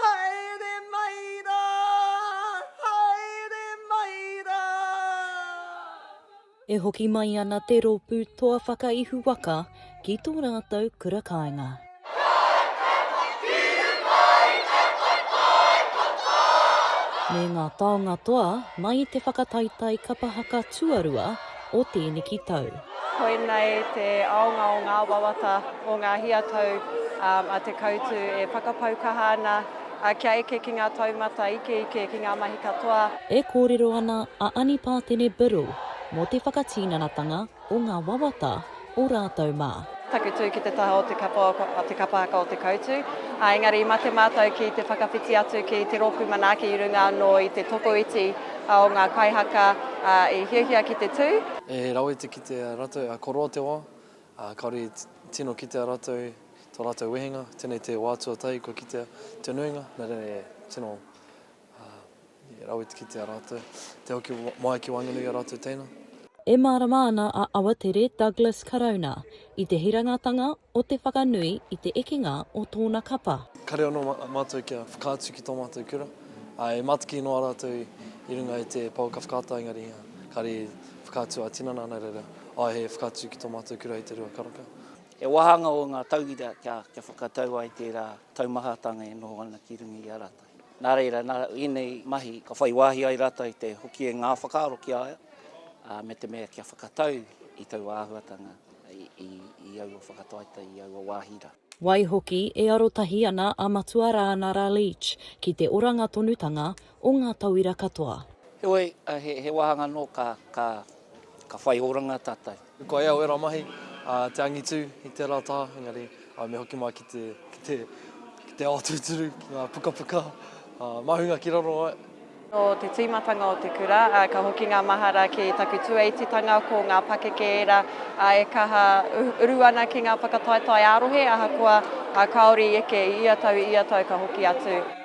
Haere mai rā! Haere mai rā! E hoki mai ana te Rōpū Toa Whakaihu Waka ki tō rātou kura kāinga. Me ngā taonga toa mai i te whakataetae kapa haka tuarua, o tēneki tau. Koinei te aonga o ngā wawata, o ngā hia tau a Te Koutu e whakapau kaha ana kia eke ki ngā taumata ikeike, ki ngā mahi katoa. E kōrero ana a Ani Pātene Biddle mō te whakatinanatanga o ngā wawata o rātou mā. Taku tū ki te taha o te kapa, o te kapa haka o Te Koutu, ā, engari i mate mātou ki te whakawhiti atu ki te rōpū manaaki i runga anō i te tokoiti o ngā kaihaka i hiahia ki te tū. He rawe te kitea ratou a koroa te wa, a kaore i tino kitea ratou to ratou wehenga, tenei te wa tuatahi kua kitea te nuinga, na tenei e tino Ā, i rawe te kite a rātou. Te hoki mai ki waenganui i a rātou teina. E mārama ana a Awatere Douglas Karauna i te hirangatanga o te whakanui i te ekenga o tōna kapa. Kare anō mātou kia whakaatu ki tō mātou kura, ā, e mātaki noa rātou i runga i te pouaka whakaata engari kāre i whakaatu ā-tinana ana reira, ā, he whakaatu ki tō mātou kura i te rua karaka. He wāhanga o ngā tauira kia whakatau ai tērā taumahatanga e noho ana ki runga i a rātou. Nā reira, nā ēnei mahi ka whai wāhi ai rātou i te hoki e ngā whakaaro ki a ia, ā, me te mea kia whakatau i taua āhuatanga i aua whakataetae, i aua wāhi rā. Waihoki, e arotahi ana a Matua Rāana Ra Leach ki te oranga tonutanga o ngā tauira katoa. Heoi, he wāhanga anō ka whai oranga tātou. Koia au ērā mahi, te angitu i tērā taha, engari me hoki mai ki te, ki te, ki te ao tūturu, ki ngā pukapuka, māhunga ki raro ai. Nō te tīmatanga o te kura, ka hoki ngā mahara ki taku tuaititanga, ko ngā pakeke ērā e kaha uru ana ki ngā whakataetae ā-rohe, ahakoa kāore i eke i ia tau, i ia tau ka hoki atu.